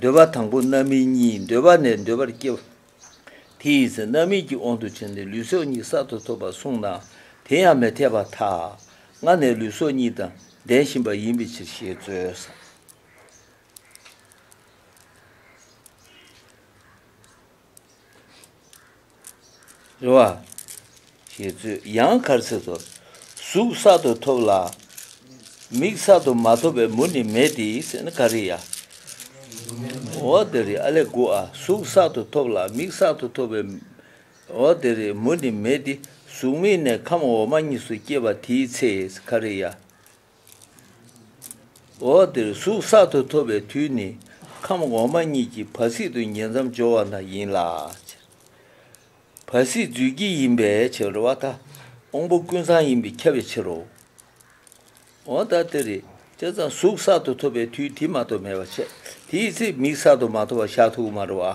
འདོད་པ་དང་པོ་རྣམ་སྨིན་གཉིས་འདོད་པ་ནས་འདོད་པར་སྐྱེ། དེ་ཡི་ཚེ་རྣམ་སྨིན་གྱི་དབང་དུ་བྱས་ནས་ལུས་སྲོག་གཉིས་གསར་དུ་ཐོབ་པར་གསུངས་ན་དེ་ཡང་མི་འཐད་པ་དག་སྔ་ནས་ལུས་སྲོག་གཉིས་དང་ལྡན་བཞིན་པ་ཡིན་པའི་ཕྱིར་ཞེས་རྩོལ། རེ་བ། ཞེས་བརྗོད་ཡང་གར་ཚེ་ཐོབ། གཟུགས་གསར་དུ་ཐོབ་ལ། མིག་གསར་དུ་མ་ཐོབ་པའི་མུ་ནི་མེད་དེ་ཟེར་ན་ག་རེ་ཡ། འོ་དེ་རེད་ཨ་ལས་དགུ་ཨ་གཟུགས་གསར་དུ་ཐོབ་ལ་མིག་གསར་དུ་ཐོབ་པའི། འོ་དེ་རེད་མུ་ནི་མེད་དེ་གཟུགས་མེད་ནས་ཁམས་འོག་མ་གཉིས་སུ་སྐྱེས་པ་དེའི་ཚེ་ཟེར་ག་རེ་ཡ། འོག་འདིར་གཟུགས་གསར་དུ་ཐོབ་པའི་དུས་ནི་ཁམས་འོག་མ་གཉིས་ཀྱི་བར་སྲིད་དུ་ཉེ་མཚམས་སྦྱོར་བ་ན་ཡིན་ལ། བར་སྲིད་རྫུས་སྐྱེས་ཡིན་པའི་ཕྱིར་རོ། བ་དང་དབང་པོ་ཀུན་ཚང་ཡིན་པས་ཁྱབ་པའི་ཕྱིར་རོ། འོག་ལྟར་སྟེ། རེ་ཅང་ཙམ་གཟུགས་གསར་དུ་ཐོབ་པའི་དུས་དེ་མ་ཐོབ་མེད་པར་འཆད། དེའི་ཚེ་མིག་གསར་དུ་མ་ཐོབ་བར་ཤ་ཐུག་མ་རུ་བ།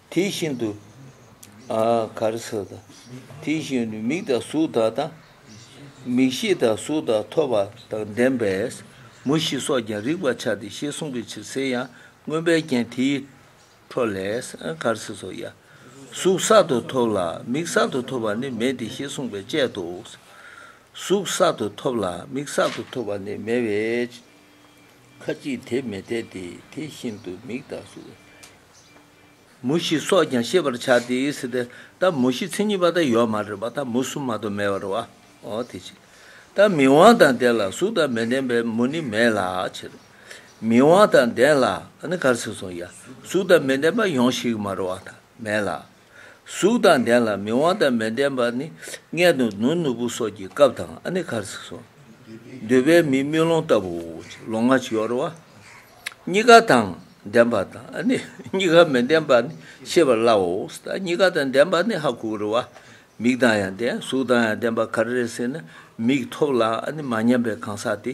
དེ་བཞིན་དུ། གར་སོགས་དང། དེ་བཞིན་དུ་མིག་དང་གཟུགས་དག་དང། མིག་ཤེས་དང་གཟུགས་དང་ཐོས་པ་དང་ལྡན་པས་མུ་བཞི་སོགས་ཀྱང་རིག་པར་བྱ་སྟེ་ཞེས་གསུངས་པའི་ཕྱིར་ཟེར་ཡང་མངོན་པའི་རྒྱན་དེའི་འཕྲོ་ལས། གར་སོགས་སོ། གཟུགས་གསར་དུ་ཐོབ་ལ་མིག་གསར་དུ་ཐོབ་པ་ནི་མེད་དེ་ཞེས་གསུངས་པས་དཔྱད་དོ། གཟུགས་གསར་དུ་ཐོབ་ལ་མིག་གསར་དུ་ཐོབ་པ་ནི་མེད་པས་ཁ་ཅིག་དེ་མི་འཐད་དེ། དེ་བཞིན་དུ་མིག་དང་གཟུགས། མུ་བཞི་སོགས་ཀྱང་ཤེས་པར་བྱ་སྟེ། ད་མུ་བཞི་མཚན་ཉིད་པ་དང་ཡོད་མ་རེད་པ་ད་མུ་གསུམ་མ་དོ་མེད་བར་བ་འོ་དེ་ཕྱིར། ད་མི་དབང་དང་ལྡན་ལ་གཟུགས་དང་མི་ལྡན་པའི་མུ་ནི་མེད་ལ་ཕྱིར། མི་དབང་དང་ལྡན་ལ་ནི་གར་སེར་སོང་ཡ་གཟུགས་དང་མི་ལྡན་པ་ཡོངས་ཤིག་མར་བ་ད་མེད་ལ། གཟུགས་དང་ལྡན་ལ་མི་དབང་དང་མི་ལྡན་པ་ནི་མངལ་དུ་ནུར་ནུར་པོ་སོགས་ཀྱི་སྐབས་དང་ཨ་ནི་ཁར་ཚིག་སོགས། འདོད་པའི་མིས་དམུས་ལོང་ལྟ་བུ་ལོང་ང་གཡོར་བ། གཉི་ག་དང་ལྡན་པ་དང་ཨ་ནི་གཉི་ག་མི་ལྡན་པ་ནི་ཤེས་པར་སླའོ། གཉི་ག་དང་ལྡན་པ་ནི་ཧ་གུ་རུ་བ། མིག་དང་ཡང་ལྡན་གཟུགས་དང་ཡང་ལྡན་པ་གར་རེ་ཟིན་ན་མིག་ཐོབ་ལ་ཨ་ནི་མ་ཉམས་པའི་གང་ཟག་དེ།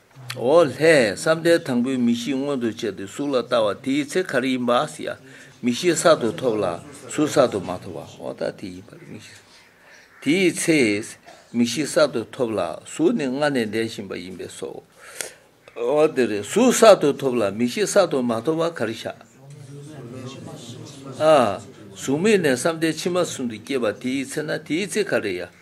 འོ་ལྷས་བསམ་གཏན་དང་པོའི་མི་གཤིས་མངོན་དུ་བྱས་ཏེ་གཟུགས་ལ་ལྟ་བ་དེའི་ཚེ་ག་རེ་ཡིན་པ་ཨཱ་སྱ། མི་གཤིས་གསར་དུ་ཐོབ་ལ་གཟུགས་གསར་དུ་མ་ཐོབ་བ་འོ་ད་དེ་ཡིན་པར་མི་ཤེས། དེའི་ཚེ། མི་གཤིས་གསར་དུ་ཐོབ་ལ་གཟུགས་ནི་སྔར་ནས་འདས་བཞིན་པ་ཡིན་པས་སོ། འོ་དེ་རེད་གཟུགས་གསར་དུ་ཐོབ་ལ་མི་གཤིས་གསར་དུ་མ་ཐོབ་བ་ག་རེ་བྱ། ཨཱ། གཟུགས་མེད་ནས་བསམ་གཏན་ཕྱི་མ་གསུམ་དུ་སྐྱེས་པ་དེའི་ཚེ་ན་དེའི་ཚེ་ག་རེ་ཡ།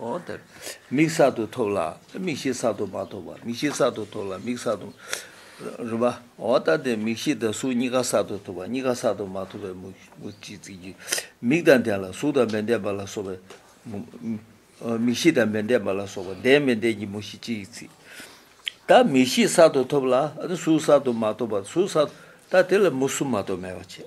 ཨོ་དེ། མིག་གསར་དུ་ཐོབ་ལ། མིག་ཤེས་གསར་དུ་མ་ཐོབ་བ། མིག་ཤེས་གསར་དུ་ཐོབ་ལ་མིག་གསར་དུ། རིམ་པ། ཨོ་ད་དེ་མིག་ཤེས་དང་གཟུགས་གཉིས་ཀ་གསར་དུ་ཐོབ་བ་གཉིས་ཀ་གསར་དུ་མ་ཐོབ་པའི་མུ་སྤྱི་ཚིག་གིས། མིག་དང་ལྡན་ལ་གཟུགས་དང་མི་ལྡན་པ་ལ་སོགས་པའི། མིག་ཤེས་དང་མི་ལྡན་པ་ལ་སོགས་པ་ལྡན་མི་ལྡན་གྱི་མུ་སྤྱི་ཡི་ཚིག། ད་མིག་ཤེས་གསར་དུ་ཐོབ་ལ། གཟུགས་གསར་དུ་མ་ཐོབ་བ་གཟུགས་གསར། ད་དེ་ལ་མུ་གསུམ་མ་གཏོགས་མེད་པར་བྱས།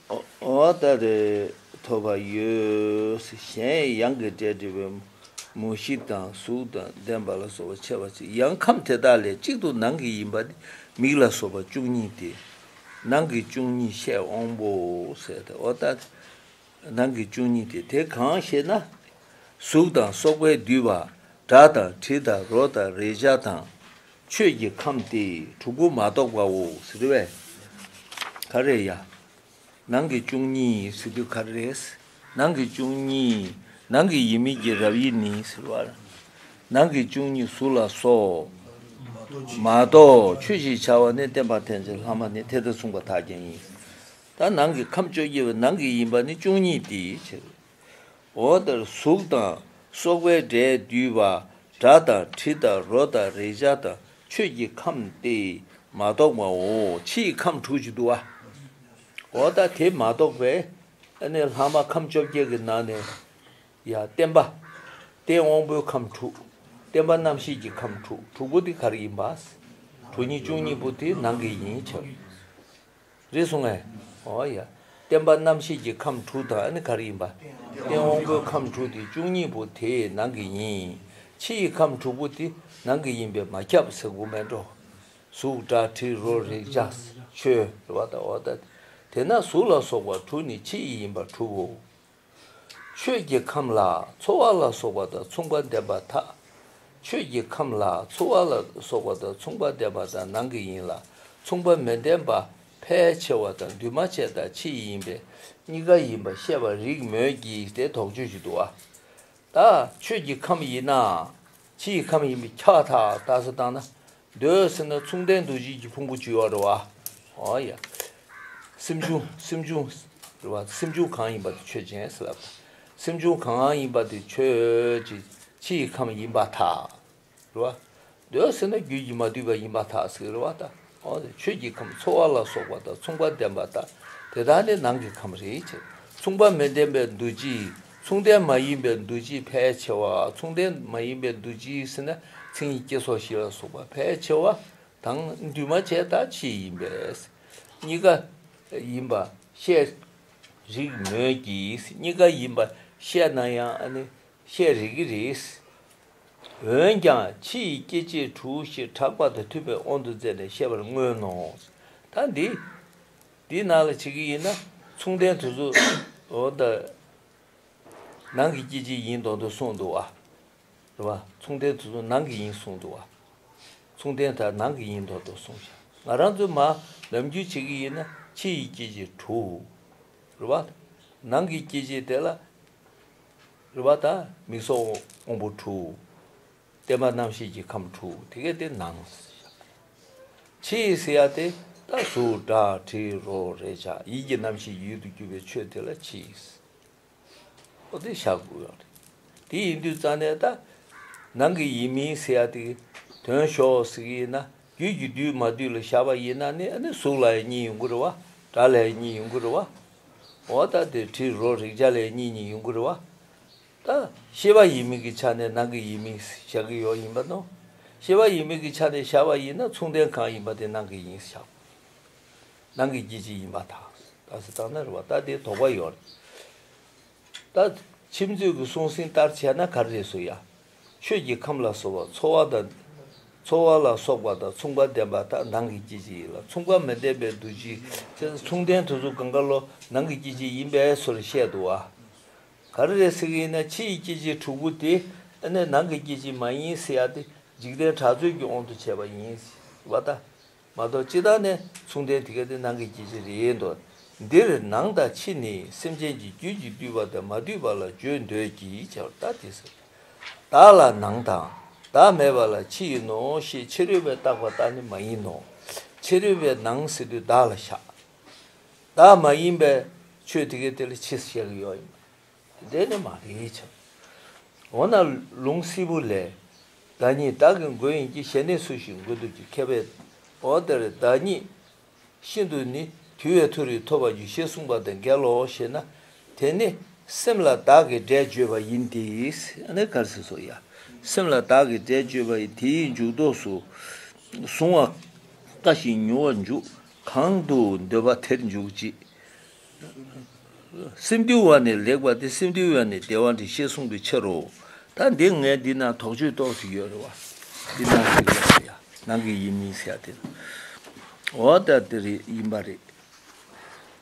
འོ་ད་རེ་ཐོབ་པ་ཡོད། གཞན་ཡང་གི་སྒྲས་བྲིས་པའི་མུ་བཞི་དང་གཟུགས་དང་ལྡན་པ་ལ་སོགས་པ་འཆད་པར་བྱེད་ཡང་ཁམས་དེ་དག་ལས་གཅིག་ཏུ་ནང་གི་ཡིན་པ་ནི་མིག་ལ་སོགས་པ་བཅུ་གཉིས་ཏེ། ནང་གི་བཅུ་གཉིས་བཤད་འོང་བོ། འོ་ད་རེ། ནང་གི་བཅུ་གཉིས་ཏེ་དེ་གང་ཞེ་ན། གཟུགས་དང་སོགས་པས་བསྡུས་པ། སྒྲ་དང་དྲི་དང་རོ་དང་རེག་བྱ་དང། ཆོས་ཀྱི་ཁམས་ཏེ་དྲུག་པོ་མ་གཏོགས་པའོ་ཟེར་བས། ག་རེ་ཡ། ནང་གི་བཅུ་གཉིས་ཟེར་དུས་ག་རེ་རེད། ནང་གི་བཅུ་གཉིས་ནང་གི་ཡིད་མིག་གི་རབ་དབྱེ་ནི་ཟེར་བ། ནང་གི་བཅུ་གཉིས་གཟུགས་ལ་སོགས། མ་གཏོགས་ཆོས་ཞེས་བྱ་བ་ནི་བསྟན་པ་ཐམས་ཅད་ལྷག་མ་ནི་དེ་ལྟར་གསུངས་པ་དག་ཀྱང་ཡིན། ད་ནང་གི་ཁམས་བཅོ་བརྒྱད་པའི་ནང་གི་ཡིན་པ་ནི་བཅུ་གཉིས་དེའི་ཕྱིར། འོ་དང་གཟུགས་དང་སོགས་པའི་སྒྲས་བསྡུས་པ་སྒྲ་དང་དྲི་དང་རོ་དང་རེག་བྱ་དང་ཆོས་ཀྱི་ཁམས་ཏེ་མ་གཏོགས་པའོ། ཕྱི་ཡི་ཁམས་དྲུག་ཅུ་དུ་བའོ། ད་དེ་མ་གཏོགས་པའི་ནི་ལྷག་མ་ཁམས་བཅོ་བརྒྱད་ཀྱི་ནང་ནས་ཡང་བསྟན་པ་སྟེ་དབང་པོའི་ཁམས་དྲུག་བསྟན་པ་རྣམ་ཤེས་ཀྱི་ཁམས་དྲུག་དྲུག་པོ་དེ་གར་ཡིན་པ། དྲུག་གཉིས་བཅུ་གཉིས་པོ་དེ་ནང་གི་ཡིན་ཕྱིར། རེད་གསུང་ངས། ཨོ་ཡ། བསྟན་པ་རྣམ་ཤེས་ཀྱི་ཁམས་དྲུག་དང་ཨ་ནི་ག་རེ་ཡིན་པ། སྟེང་འོག་སྒོའི་ཁམས་དྲུག་དེ་བཅུ་གཉིས་པོ་དེ་ནང་གི་ཡིན། ཕྱི་ཡི་ཁམས་དྲུག་པོ་དེ་ནང་གི་ཡིན་པས་མ་ཁྱབ་ཟེར་དགོས་མེད་འགྲོ། གཟུགས་སྒྲ་དྲི་རོ་རེག་བྱ་ཆོས། རེ་བ་དང་འོ་ད་དེ་ན་གཟུགས་ལ་སོགས་པ་དྲུག་ནི་ཕྱི་ཡི་ཡིན་པ་དྲུག་གོ། ཆོས་ཀྱི་ཁམས་ལ་འཚོ་བ་ལ་སོགས་པ་དང་མཚུངས་པ་ལྡན་པ་མཐའ། ཆོས་ཀྱི་ཁམས་ལ་འཚོ་བ་ལ་སོགས་པ་དང་མཚུངས་པ་ལྡན་པ་དང་ནང་གི་ཡིན་ལ་མཚུངས་པ་མི་ལྡན་པ་ཕལ་ཆེ་བ་དང་འདུས་མ་བྱས་དང་ཕྱི་ཡི་ཡིན་པས་གཉི་ག་ཡིན་པར་བཤད་པར་རིགས་མོད་ཀྱི་དེ་དོགས་གཅོད་ཀྱི་དུ་བ། ད་ཆོས་ཀྱི་ཁམས་ཡིན་ན། ཕྱི་ཡི་ཁམས་ཡིན་པས་འཁྱགས་འཐག་ད་གཟོད་བཏང་ན། འདོད་སྲེད་སྣ་ཚོགས་འགྲན་འདུ་བཞིན་གྱི་ཕུང་པོ་བཅུ་ཡོད་རེ་བ། ཨོ་ཡ། སེམས་བྱུང་སེམས་བྱུང། རེ་བ། སེམས་བྱུང་གང་ཡིན་པ་དེ་ཆོས་ཅན་ཟེར། སེམས་བྱུང་གང་ཡིན་པ་དེ་ཆོས་ཀྱི་ཕྱི་ཡི་ཁམས་ཡིན་པ་ཐག། རེ་བ། འདོད་བ་སེར་སྣ་རྒྱུད་ཀྱིས་མ་འདུས་པ་ཡིན་པ་དག་གཟིགས་རེ་བ་དང། ཆོས་ཀྱི་ཁམས་ཚོར་བ་ལ་སོགས་པ་དང་མཚུངས་པ་ལྡན་པ་དག་དེ་དག་ནི་ནང་གི་ཁམས་རེད་ཅེས། མཚུངས་པ་མི་ལྡན་པའི་འདུ་བྱེད། མཚུངས་ལྡན་མ་ཡིན་པའི་འདུ་བྱེད་ཕལ་ཆེ་བ། མཚུངས་ལྡན་མ་ཡིན་པའི་འདུ་བྱེད་ཟེར་ན་མཚན་ཉིད་སྐྱེ་སོགས་བཞི་ལ་སོགས་པ་ཕལ་ཆེ་བ་དང། འདུས་མ་བྱས་དག་ཕྱིས་ཡིན་པས་གཉི་ག་ཡིན་པར་བཤད། རིགས་མོད་ཀྱི་གཉི་ག་ཡིན་པར་བཤད་ན་ཡང་ནི་བཤད་རིགས་རེད། འོན་ཀྱང་ཕྱི་ཡི་སྐྱེ་མཆེད་དྲུག་ཞེས་གྲགས་པ་དང་ཐུབ་པའི་དབང་དུ་མཛད་ནས་བཤད་པར་མངོན་ནོ། ད་འདི་འདི་ནང་ལ་བྱེད་ཀྱི་ཡིན་ན་མཚུངས་ལྡན་དུ་གཟུགས་དང། ནང་གི་སྐྱེ་མཆེད་ཡིན་དོགས་འདུག་གསུངས་འདུག་བ། རེད་བ། མཚུངས་ལྡན་དུ་གཟུགས་ནང་གི་ཡིན་གསུངས་འདུག་བ། མཚུངས་ལྡན་དག་ནང་གི་ཡིན་དོགས་འདུག་གསུངས་ཤིང་ང་རང་ཚོའི་མ་ལམ་རྒྱུད་བྱེད་ཀྱི་ཡིན་ན་ཕྱི་ཡི་སྐྱེ་མཆེད་དྲུག། རེད་བ། ནང་གི་སྐྱེ་མཆེད་དེ་ལ། རུ་བ་དང་མིག་སོགས་དབང་པོ་དྲུག། བརྟན་པ་རྣམ་ཤེས་ཀྱི་ཁམས་དྲུག་དེ་གས་ཏེ་ནང། ཕྱི་ཡི་སེ་ཡ་སྟེ་རྟ་གཟུགས་སྒྲ་དྲི་རོ་རེག་བྱ་ཡིད་ཀྱི་རྣམ་ཤེས་ཀྱི་ཡུལ་དུ་གྱུར་པའི་ཆོས་དེ་ལ་ཕྱི་ཡི་སེ་ཡ་སྟེ་ཞག་དགུ། དེ་ཡིན་དུས་རྩ་གནས་དང། ནང་གི་ཡིད་མིན་སེ་ཡ་སྟེ། དོན་ཞོག་ཟིག་ཡིན་ན་རྒྱུད་ཀྱི་བསྡུས་མ་བསྡུས་ལ་བཞག་པ་ཡིན་ན་ནི་གཟུགས་ལ་ཡང་གཉིས་ཡོད་འགུལ་རེ་བ། སྒྲ་ལ་ཡང་གཉིས་ཡོད་འགུལ་རེ་བ། འོ་ད་དེ་དྲིའི་རོ་རེག་བྱ་ལ་ཡང་གཉིས་གཉིས་ཡོད་འགུལ་རེ་བ། ད་ཤེས་པ་ཡིན་མིན་གྱི་ཆ་ནས་ནང་གི་ཡིན་མིན་བཞག་གི་ཡོད་ཡིན་པ་ནོ། ཤེས་པ་ཡིན་མིན་གྱི་ཆ་ནས་བཞག་པ་ཡིན་ན་མཚུངས་ལྡན་གང་ཡིན་པ་དེ་ནང་གི་ཡིན་བཞག་གོ། ནང་གི་སྐྱེ་མཆེད་ཡིན་པ་དང་ད་སྲིད་དང་ན་རེ་བ་ད་དེའི་དོགས་པ་ཡོད། ད་ཕྱི་མཚུངས་ཀྱི་གསུང་ཟིན་ལྟར་བྱས་ན་ག་རེ་རེད་སུ་ཡང་ཆོས་ཀྱི་ཁམས་ལ་སོགས་པ་ཚོར་བ་དང། ཚོར་བ་ལ་སོགས་པ་དང་མཚུངས་པ་ལྡན་པ་དག་ནང་གི་སྐྱེ་མཆེད་ཡིན་ལ་མཚུངས་པ་མི་ལྡན་པའི་འདུ་བྱེད་མཚུངས་ལྡན་དུ་གཟུགས་གང་ག་ལོ་ནང་གི་སྐྱེ་མཆེད་ཡིན་པས་སོར་བཤད་དུ་བ། ག་རེ་རེ་ཟིག་ཡིན་ན་ཕྱི་ཡི་སྐྱེ་མཆེད་དྲུག་པོ་དེ་ནི་ནང་གི་སྐྱེ་མཆེད་མ་ཡིན་ཟེར་ཡ་སྟེ་འཇིག་རྟེན་གྲགས་ཚོད་ཀྱི་དབང་དུ་བྱས་པ་ཡིན། བ་ལྟ། མ་གཏོགས་ཅི་ལྟར་ནས་མཚུངས་ལྡན་དེ་ག་དེ་ནང་གི་སྐྱེ་མཆེད་རེད་ཡིན་ཏོ། འདིར་ནང་དང་ཕྱི་ནི་སེམས་ཅན་གྱི་རྒྱུད་ཀྱིས་བསྡུས་པ་དང་མ་བསྡུས་པ་ལ་བརྗོད་འདོད་ཀྱིས་བྱ་བར་ལྟ་སྟེ་ཟེར། བདག་ལ་ནང་དང། བདག་མེད་པ་ལ་ཕྱི་ཡིན་ནོ་ཞེས་ཕྱི་རོལ་པའི་བཏགས་པ་ལྟར་ནི་མ་ཡིན་ནོ། ཕྱི་རོལ་པའི་ནང་ཟེར་དུས་བདག་ལ་བཞག། བདག་མ་ཡིན་པའི་ཆོས་དེ་ག་དེ་ལ་ཕྱི་ཟེར་བཞག་གི་ཡོད་ཡིན་ནོ། འདི་ནི་མ་རེད་ཆ། འོ་ན་ལུང་བསིལ་བུ་ལས། བདག་ཉིད་བདག་གི་མགོན་ཡིན་གྱི་ཞལ་ནས་སུ་ཞིག་མགོན་འདུག་ཅེས་ཁས་པའི་འོག་དེར་བདག་ཉིད་ཤིན་ཏུ་ནི་དུལ་བའི་མཐོ་རིས་ཐོབ་པར་འགྱུར་ཞེས་གསུངས་པ་དང་འགལ་ལོ་ཞེ་ན། དེ་ནི་སེམས་ལ་བདག་གི་སྒྲས་བརྗོད་པ་ཡིན་ཏེ། སེམས་ལ་བདག་གི་སྒྲས་བརྗོད་པ་ཡིན་དེའི་མཇུག་ཐོགས་སུ་གཟུང་བ་དཀའ་ཞིང་མྱུར་བར་འཇུག་གང་དུ་འདོད་པ་དེར་འཇུག་ཅིག། སེམས་དུལ་བ་ནི་ལེགས་པ་སྟེ་སེམས་དུལ་བས་ནི་བདེ་བ་འདི་ཤེས་གསུངས་པའི་ཕྱིར་རོ། ད་འདི་ངས་འདི་ན་དོགས་གཅོད་རྟོགས་ཤིག་ཡོད་རེ་བ། འདི་ནང་གི་ཡིན་པ་ཡ། ནང་གི་ཡིན་མིན་ཟེར་ཡ་དེ་ན། འོ་ད་དེ་རེད་ཡིན་པ་རེད།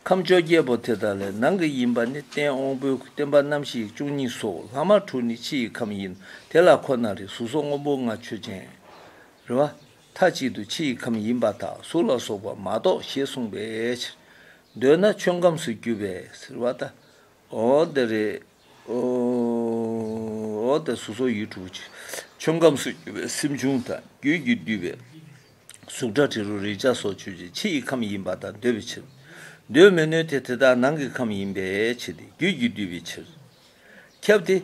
ཁམས་བཅོ་བརྒྱད་པོ་དེ་དག་ལས་ནང་གི་ཡིན་པ་ནི་སྟེང་དབང་པོའི་བསྟན་པ་རྣམ་ཤེས་བཅུ་གཉིས་སོ་ལྷག་མ་དྲུག་ནི་ཕྱི་ཡི་ཁམས་ཡིན་དེ་ལ་ཁོ་ན་རེ་གཟུགས་སོགས་དངོས་པོ་ལྔ་ཆོས་ཅན། རེ་བ། མཐའ་གཅིག་ཏུ་ཕྱི་ཡི་ཁམས་ཡིན་པ་དག་གཟུགས་ལ་སོགས་པ་མ་གཏོགས་ཞེས་གསུངས་པའི་ཕྱིར། འདོད་ན་ཆོས་ཁམས་སུ་གྱུར་པས་ཟེར་བ་ལྟ་བུ། འདི་རེའོ། དེ་གཟུགས་སོགས་ཡུལ་དྲུག་ཅུ། ཆོས་ཁམས་སུ་གྱུར་པའི་སེམས་བྱུང་དང་རྒྱུད་ཀྱིས་བསྡུས་པའི་གཟུགས་སྒྲ་དྲི་རོ་རེག་བྱ་སོགས་ཆོས་ཀྱི་ཕྱི་ཡི་ཁམས་ཡིན་པ་དག་འདོད་པའི་ཕྱིར། འདོད་མི་ནུས་ཏེ་དེ་དག་ནང་གི་ཁམས་ཡིན་པའི་ཕྱིར་ཏེ་རྒྱུད་ཀྱིས་བསྡུས་པའི་ཕྱིར། ཁྱབ་སྟེ།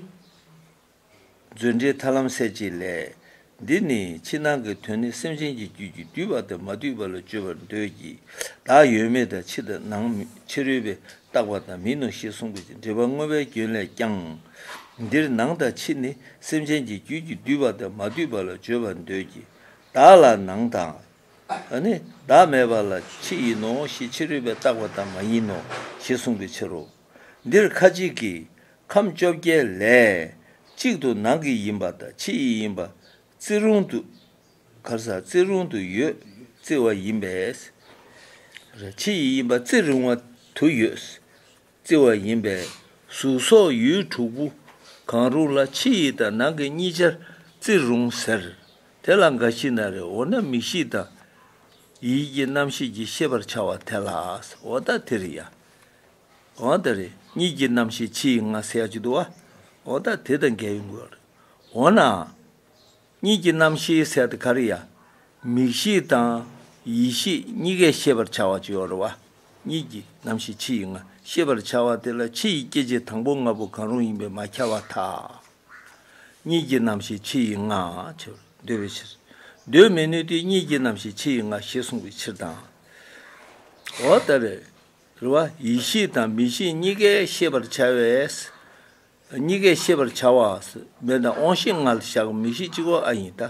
མཛོད་འགྲེལ་ཐར་ལམ་གསལ་བྱེད་ལས། འདི་ནི་ཕྱི་ནང་གི་དོན་ནི་སེམས་ཅན་གྱི་རྒྱུད་ཀྱིས་བསྡུས་པ་དང་མ་བསྡུས་པ་ལ་བརྗོད་པར་འདོད་ཀྱི། བདག་ཡོད་མེད་དང་ཕྱི་དང་ནང་ཕྱི་རོལ་པས་བཏགས་པ་དང་མིན་ནོ་ཞེས་གསུངས་པའི་ཕྱིར་འགྲེལ་པ་དངོས་པའི་སྐྱོན་ལས་ཀྱང། འདིར་ནང་དང་ཕྱི་ནི་སེམས་ཅན་གྱི་རྒྱུད་ཀྱིས་བསྡུས་པ་དང་མ་བསྡུས་པ་ལ་བརྗོད་པར་འདོད་ཀྱི། བདག་ལ་ནང་དང། ནི་བདག་མེད་པ་ལ་ཕྱི་ཡིན་ནོ་ཞེས་ཕྱི་རོལ་པས་བཏགས་པ་དང་མ་ཡིན་ནོ་ཞེས་གསུངས་པའི་ཕྱིར་རོ། འདིར་ཁ་ཅིག་གིས། ཁམས་བཅོ་བརྒྱད་ལས། གཅིག་ཏུ་ནང་གི་ཡིན་པ་དང་ཕྱི་ཡི་ཡིན་པ། བརྩི་རུང་དུ། གར་ས་བརྩི་རུང་དུ་ཡོད་བརྩི་བ་ཡིན་པས། ཕྱི་ཡི་ཡིན་པ་བརྩི་རུང་བ་དུ་ཡོད་བརྩི་བ་ཡིན་པས། གཟུགས་སོགས་ཡུལ་དྲུག་པོ་གང་རུང་ལ་ཕྱི་ཡི་དང་ནང་གི་གཉིས་ཆར་བརྩི་རུང་ཟེར། དེ་ལ་འགའ་ཞིག་ན་རེ་འོ་ན་མིག་ཤེས་དང། ཡིད་ཀྱི་རྣམ་ཤེས་ཀྱི་ཤེས་པར་བྱ་བ་དེ་ལ་འོ་ད་དེར་ཡང། འོ་ན་རེ་གཉིས་ཀྱི་རྣམ་ཤེས་ཕྱི་ཡི་ང་སེ་ཡ་ཅིག་ཏུ་བ། འོ་ད་དེ་དང་འགལ་བའི་མགོ་ཡང་རེད། འོ་ན། གཉིས་ཀྱི་རྣམ་ཤེས་ཟེར་ཏེ་ག་རེ་ཡ། མིག་ཤེས་དང། ཡིད་ཤེས་གཉིས་ཀས་ཤེས་པར་བྱ་བ་ཅིག་ཡོད་རེད་བ། གཉིས་ཀྱི་རྣམ་ཤེས་ཕྱི་ཡི་ང་ཤེས་པར་བྱ་བ་དེ་ལ་ཕྱི་ཡི་སྐྱེ་མཆེད་དང་པོ་ལྔ་པོ་གང་རུང་ཡིན་པས་མ་ཁྱབ་བ་དག། གཉིས་ཀྱི་རྣམ་ཤེས་ཕྱི་ཡི་ང་ཆེ་བར་འདོད་པའི་ཕྱིར། འདོད་མི་ནུས་དུས་གཉིས་ཀྱི་རྣམ་ཤེས་ཕྱི་ཡི་ང་ཞེས་གསུངས་པའི་ཕྱིར་དང། འོ་ད་རེ། རེ་བ། ཡིད་ཤེས་དང་མི་ཤེས་གཉིས་ཀས་ཤེས་པར་བྱ་བས། གཉིས་ཀས་ཤེས་པར་བྱ་བ། མེ་དང་དབང་ཤེས་ལྔ་ལ་བཞག་མིག་ཤེས་གཅིག་བ་ཨ་ཡིན་ལྟ།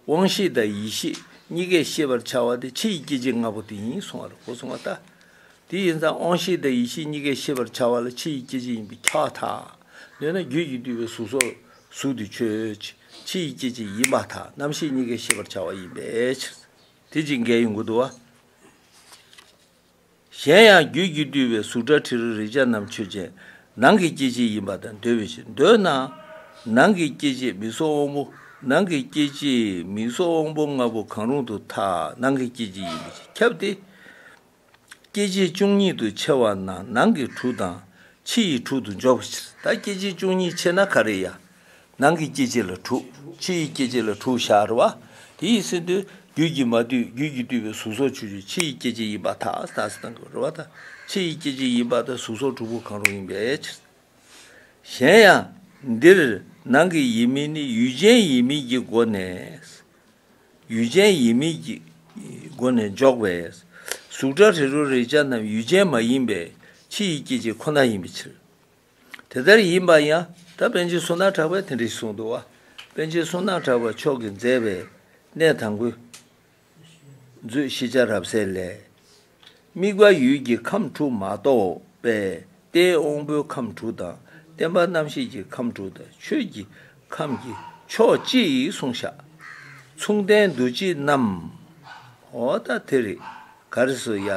དབང་ཤེས་དང་ཡིད་ཤེས་གཉིས་ཀས་ཤེས་པར་བྱ་བ་དེ་ཕྱི་ཡི་སྐྱེ་མཆེད་ལྔ་པོ་དེ་ཡིན་གསུང་བར་གོ་གསུང་བ་ལྟ། དེ་ཡིན་ཙང་དབང་ཤེས་དང་ཡིད་ཤེས་གཉིས་ཀས་ཤེས་པར་བྱ་བ་ལ་ཕྱི་ཡི་སྐྱེ་མཆེད་ཡིན་པས་ཁྱབ་བ་དག། འདོད་ན་རྒྱུད་ཀྱིས་བསྡུས་པའི་གཟུགས་སོགས་གཟུགས་དེ་ཆོས་ཕྱི་ཡི་སྐྱེ་མཆེད་ཡིན་པ་དག་རྣམ་ཤེས་གཉིས་ཀས་ཤེས་པར་བྱ་བ་ཡིན་པའི་ཕྱིར། དེ་ཅིག་འགལ་ཡང་དགོས་འདུ་བ། གཞན་ཡང་རྒྱུད་ཀྱིས་བསྡུས་པའི་གཟུགས་སྒྲ་དྲི་རོ་རེག་བྱ་རྣམས་ཆོས་ཅན། ནང་གི་སྐྱེ་མཆེད་ཡིན་པ་དང་འདོད་པའི་ཕྱིར། འདོད་ན། ནང་གི་སྐྱེ་མཆེད་མིག་སོགས་དབང་པོ། ནང་གི་སྐྱེ་མཆེད་མིག་སོགས་དབང་པོ་ལྔ་པོ་གང་རུང་དུ་ཐ་ནང་གི་སྐྱེ་མཆེད་ཡིན་པའི་ཕྱིར་ཁྱབ་སྟེ། སྐྱེ་མཆེད་བཅུ་གཉིས་དུ་ཕྱེ་བ་ན་ནང་གི་དྲུག་དང། ཕྱི་ཡི་དྲུག་ཏུ་འཇོག་པའི་ཕྱིར། ད་སྐྱེ་མཆེད་བཅུ་གཉིས་ཕྱེ་ན་ག་རེ་ཡང། ནང་གི་སྐྱེ་མཆེད་ལ་དྲུག། ཕྱི་ཡི་སྐྱེ་མཆེད་ལ་དྲུག་ཞག་རེ་བ། དེ་ཡི་སྲིད་དུ། རྒྱུད་ཀྱིས་མ་བསྡུས་རྒྱུད་ཀྱིས་བསྡུས་པའི་གཟུགས་སོགས་ཆུ་བཅུ་ཕྱི་ཡི་སྐྱེ་མཆེད་ཡིན་པ་དག་དག་སྲིད་དང་གི་རེ་བ་དང། ཕྱི་ཡི་སྐྱེ་མཆེད་ཡིན་པ་དག་གཟུགས་སོགས་དྲུག་པོ་གང་རུང་ཡིན་པའི་ཕྱིར། གཞན་ཡང། འདིར། ནང་གི་ཡིན་མིན་ནི་ཡུལ་ཅན་ཡིན་མིན་གྱི་སྒོ་ནས། ཡུལ་ཅན་ཡིན་མིན་གྱི། སྒོ་ནས་འཇོག་པས། གཟུགས་སྒྲ་རི་རོ་རེག་བྱ་རྣམས་ཡུལ་ཅན་མ་ཡིན་པའི་ཕྱི་ཡི་སྐྱེ་མཆེད་ཁོ་ན་ཡིན་པའི་ཕྱིར། དེ་ལྟར་ཡིན་པ་ཡང་ད་པན་ཆེན་སུ་ན་གྲགས་པས་དེ་འདྲ་ཞིག་གསུངས་འདུག་བ། པན་ཆེན་སུ་ན་གྲགས་པ་མཆོག་གིས་མཛད་པའི་གནས་དང་པོའི། མཛོད་ཤེས་བྱ་རབ་གསལ་ལས། དམིགས་པ་ཡུལ་གྱི་ཁམས་དྲུག་མ་གཏོགས་པས་རྟའི་དབང་པོའི་ཁམས་དྲུག་དང་བརྟན་པ་རྣམ་ཤེས་ཀྱི་ཁམས་དྲུག་དང་ཆོས་ཀྱི་ཁམས་ཀྱི་ཕྱོགས་གཅིག་གསུངས་བཞག། མཚུངས་ལྡན་འདུ་བྱེད་རྣམས། འོ་ད་དེ་རེད། ག་རེ་སོ་ཡ།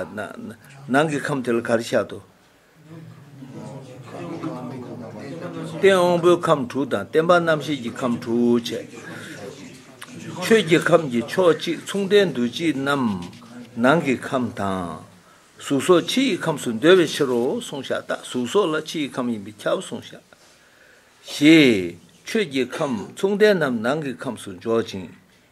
ནང་གི་ཁམས་དེ་ལ་ག་རེ་བྱ་དོ། སྟེང་དབང་པོའི་ཁམས་དྲུག་དང་བརྟེན་པ་རྣམ་ཤེས་ཀྱི་ཁམས་དྲུག་བྱས། ཆོས་ཀྱི་ཁམས་ཀྱི་ཕྱོགས་གཅིག་མཚུངས་ལྡན་འདུ་བྱེད་རྣམས་ནང་གི་ཁམས་དང། གཟུགས་སོགས་ཕྱི་ཡི་ཁམས་སུ་འདོད་པའི་ཕྱིར་རོ་གསུངས་ཤ་སྟག་གཟུགས་སོགས་ལ་ཕྱི་ཡི་ཁམས་ཡིན་པས་ཁྱབ་གསུངས་ཤ། ཞེས། ཆོས་ཀྱི་ཁམས་མཚུངས་ལྡན་རྣམས་ནང་གི་ཁམས་སུ་འཇོག་ཅིང།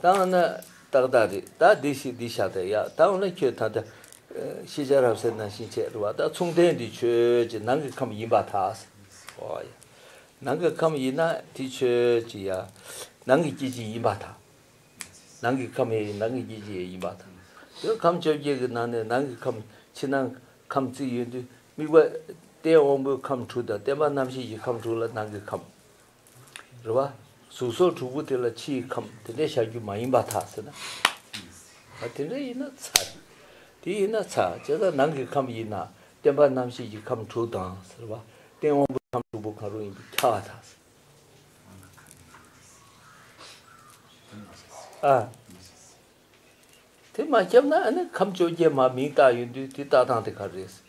ད་འོ་ན་ཏག་ཏག་རེད་ད་འདི་ཞིག་འདི་བཞག་ད་ཡག་ད་འོ་ན་ཁྱོད་ད་ལྟ། ཤེས་བྱ་རབ་གསལ་སྣང་ཞེན་ཆེ་རུ་བ་ད་མཚུངས་ལྡན་འདི་ཁྱོད་ཀྱི་ནང་གི་ཁམས་ཡིན་པ་དག། ཨོ་ཡ། ནང་གི་ཁམས་ཡིན་ན་དེ་ཁྱོད་ཀྱི་ཡ། ནང་གི་སྐྱེ་འཆི་ཡིན་པ་དག། ནང་གི་ཁམས་ཡ་ནང་གི་སྐྱེ་འཆི་ཡ་ཡིན་པ་དག། དེ་ཁམས་བཅོ་བརྒྱད་ཀྱི་ནང་ནས་ནང་གི་ཁམས་ཕྱི་ནང་ཁམས་རྩིས་ཡོད་དུས་དམིགས་པ། རྟེན་དབང་པོའི་ཁམས་དྲུག་དང་བརྟེན་པ་རྣམ་ཤེས་ཀྱི་ཁམས་དྲུག་ལ་ནང་གི་ཁམས། རེད་བ། གཟུགས་སོགས་དྲུག་པོ་དེ་ལ་ཕྱི་ཡི་ཁམས་དེ་འདྲས་ཤར་རྒྱུ་མ་ཡིན་པ་དག་ཟེར་ན། ཨ་དེ་འདྲས་ཡིན་ན་ཚ། དེ་ཡིན་ན་ཚ་བྱས་ཙང་ནང་གི་ཁམས་ཡིན་ན་བརྟེན་པ་རྣམ་ཤེས་ཀྱི་ཁམས་དྲུག་དང་ཟེར་བ། སྟེང་དབང་པོའི་ཁམས་དྲུག་པོ་གང་རུང་ཡིན་པའི་ཁྱ་བ་དག་ཟེར། ཨ། དེ་མ་ཁྱབ་ན་ཨ་ནི་ཁམས་བཅོ་བརྒྱད་མ་མིང་བཏགས་ཡོད་དུས་དེ་ལྟ་སྟངས་དེ་ག་རེ་ཟེར།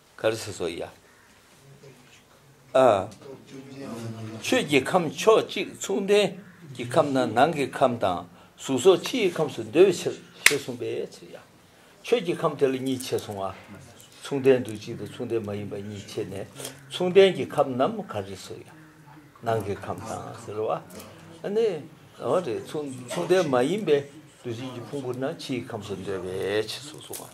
གར་སོ་སོ་ཡ། ཆོས་ཀྱི་ཁམས་ཕྱོགས་གཅིག་མཚུངས་ལྡན་གྱི་ཁམས་ན་ནང་གི་ཁམས་དང་གཟུགས་སོགས་ཕྱིའི་ཁམས་སུ་འདོད་ཕྱིར་ཞེས་གསུངས་པའི་ཕྱིར་ཡ། ཆོས་ཀྱི་ཁམས་དེ་ལ་གཉིས་ཕྱེད་གསུངས། མཚུངས་ལྡན་དུ་གཅིག་དང་མཚུངས་ལྡན་མ་ཡིན་པ་གཉིས་ཕྱེད་ནས་མཚུངས་ལྡན་གྱི་ཁམས་རྣམས་གར་རེ་སོ་ཡ། ནང་གི་ཁམས་དང་ཟེར་བ་ནི་འོ་རེད་མཚུངས་ལྡན་མ་ཡིན་པའི་འདུ་བྱེད་ཀྱི་ཕུང་པོ་རྣམས་ཕྱིའི་ཁམས་སུ་འདོད་པའི་ཕྱིར་སོགས་གསུངས།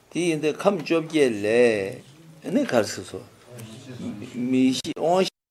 དེ་ཡིན་ཏེ་ཁམས་བཅོ་བརྒྱད་ལས། ནི་གར་སིགས་སོ། མི་ཤིས་དབང་བཞི།